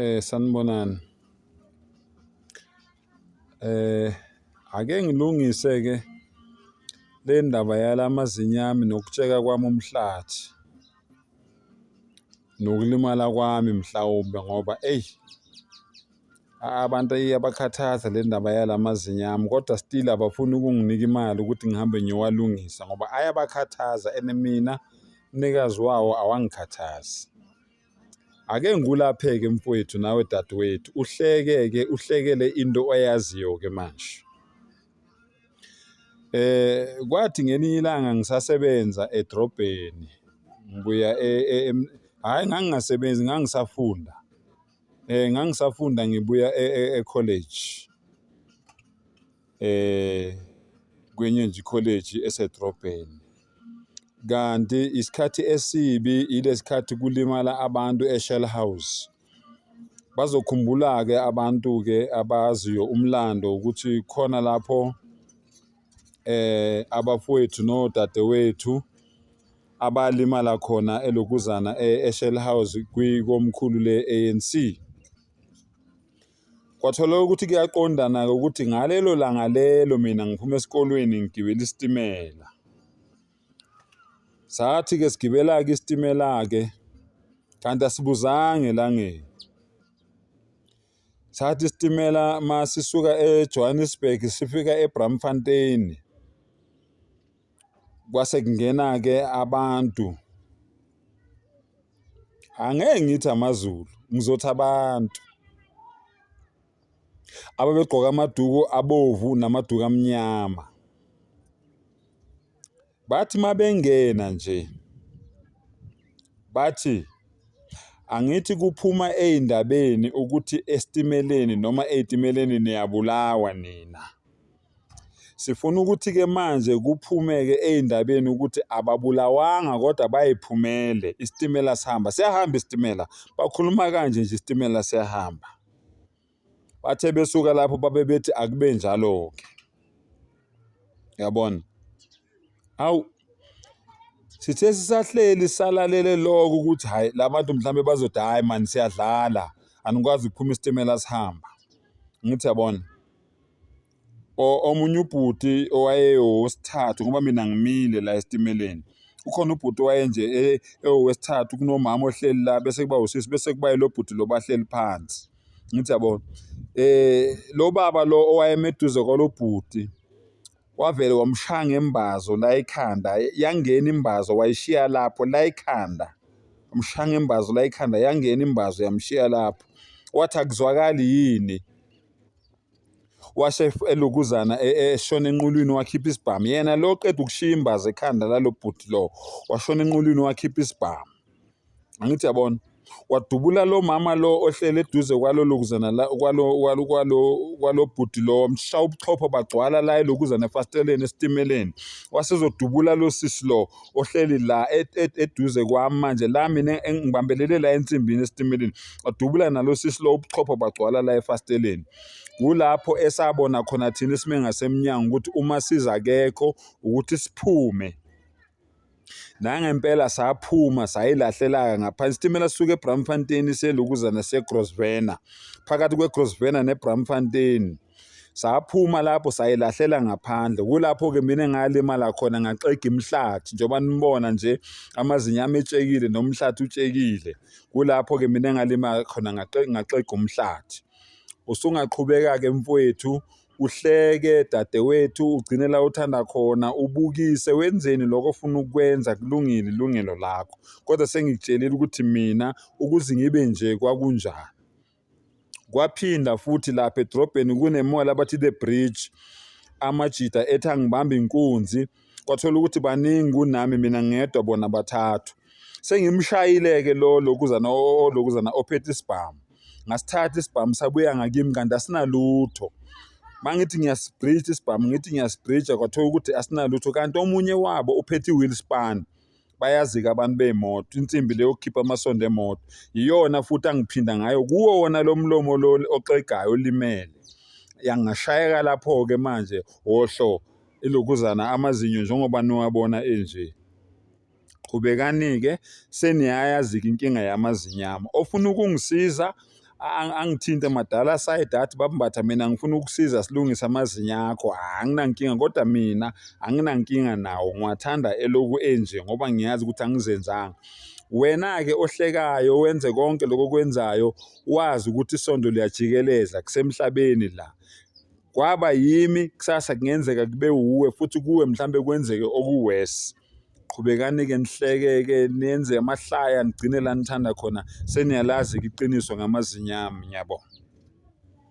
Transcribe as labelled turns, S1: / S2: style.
S1: Eh sanibonani. Eh ake ngilungise ke le ndaba yalamazinyo ami nokutsheka kwami umhlathi. Nokulimala kwami mhlawumbe ngoba eyi abantu iyabakhathaza le ndaba yalamazinyo ami kodwa still abafuni ukunginika imali ukuthi ngihambe ngiyowalungisa ngoba ayabakhathaza and mina mnikazi wawo awangikhathazi. Ake ngikulaphe-ke mfwethu nawe dadewethu, uhleke-ke uhlekele into oyaziyo-ke manje. Eh kwathi ngelinye ilanga ngisasebenza edrobheni ngibuya e, e, em, hhayi ngangingasebenzi ngangisafunda um ngangisafunda ngibuya e-college. kwenye nje ikholeji esedrobheni kanti isikhathi esibi ilesikhathi kulimala abantu eShell House bazokhumbula-ke abantu-ke abaziyo umlando ukuthi khona lapho eh abafowethu nodadewethu abalimala khona elokuzana eShell House kwikomkhulu le-ANC Kwatholakala ukuthi kuyaqondana-ke ukuthi ngalelo langa lelo mina ngiphuma esikolweni ngigibela isitimela. Sathi-ke sigibela-ke isitimela-ke kanti asibuzanga elangeni. Sathi isitimela masisuka eJohannesburg sifika eBramfontein. kwase kungena-ke abantu angeke ngithi amaZulu ngizothi abantu ababegqoka amaduku abovu namaduku amnyama bathi mabengena nje bathi angithi kuphuma ey'ndabeni ukuthi esitimeleni noma ey'timeleni niyabulawa nina. Sifuna ukuthi-ke manje kuphumeke ey'ndabeni ukuthi ababulawanga kodwa bay'phumele, isitimela sihamba. Siyahamba isitimela, bakhuluma kanje nje isitimela siyahamba. Bathe besuka lapho babe bethi akube njalo-ke. Yabona? Hawu, sithe sisahleli salalele lokho ukuthi hhayi la bantu mhlawumbe bazothi hhayi mani siyadlala, anikwazi ukuphuma isitimela sihamba. Angithi yabona? O- omunye ubhuti owayewowesithathu ngoba mina ngimile la esitimeleni ukhona ubhuti owayenje e- ewowesithathu kunomama ohleli la bese kuba usisi bese kuba yilo bhuti lo bahleli phansi ngithi yabona eh lo baba lo owayemeduze kwalo bhuti wavele wamshaya ngembazo la ekhanda yangena imbazo wayishiya lapho la ekhanda wamshaya ngembazo la ekhanda yangena imbazo yamshiya lapho wathi akuzwakali yini washe elokuzana e, e, eshona enqulwini wakhipha isibhamu yena lo qeda ukushiya imbaza ekhanda lalo bhuti lo washona enqulwini wakhipha isibhamu angithi yabona wadubula lo mama lo ohlele eduze kwalo lokuzana la kwalo kwalo kwalo kwalo bhuti lo msha ubuchopho bagcwala la elokuzana efasteleni esitimeleni wasezodubula lo sisi lo ohleli la eduze kwami manje la mina ngibambelele la ensimbini esitimeleni wadubula nalo sisi lo ubuchopho bagcwala la efasteleni kulapho esabona khona thina isime ngasemnyango ukuthi uma siza akekho ukuthi siphume nangempela saphuma sayilahlelaka ngaphansi isitimela sisuke ebramfontein selokuzana segrosvena phakathi kwegrosvena nebramfontein saphuma lapho sayilahlela ngaphandle kulapho-ke mina engalimala khona ngaxega imihlathi njengoba nibona nje amazinyo ami etshekile nomhlathi utshekile kulapho-ke mina engalimala khona ngaxega umhlathi usungaqhubeka-ke mfowethu uhleke dadewethu ugcine la uthanda khona ubukise wenzeni lokho ofuna ukwenza kulungile ilungelo lakho kodwa sengikutshelile ukuthi mina ukuze ngibe nje kwakunjani Kwaphinda futhi lapha edrobheni kune-mall abathi The Bridge amajita ethi angibambe inkunzi kwathola ukuthi baningi kunami mina ngedwa bona bathathu sengimshayile-ke lo lokuzana olokuzana ophethe isibhamu ngasithatha isibhamu sabuya ngakimi kanti asinalutho mangithi ngiyasibhrija isibhamu ngithi ngiyasibhrija kwathola ukuthi asinalutho kanti omunye wabo uphethe i-wheel span bayazika abantu bey'moto insimbi le yokukhipha amasondo emoto yiyona futhi angiphinda ngayo kuwo wona lo mlomo lo oxegayo olimele yangashayeka lapho-ke manje wohlo ilokuzana amazinyo njengoba niwabona enje qhubekani-ke seniyayazika inkinga yamazinyo ami ofuna ukungisiza angithinte madala aside athi babambatha mina ngifuna ukusiza silungise amazinyo akho ah, anginankinga kodwa mina anginankinga nawo ngiwathanda eloku enje ngoba ngiyazi ukuthi angizenzanga wena-ke ohlekayo wenze konke lokho kwenzayo wazi ukuthi isondo liyajikeleza kusemhlabeni la kwaba yimi kusasa kungenzeka kube wuwe futhi kuwe mhlawumbe kwenzeke okuwesi qhubekani-ke nihleke-ke nenze amahlaya nigcine la nithanda khona seniyalazi-ke iqiniso ngamazinyami ngiyabonga.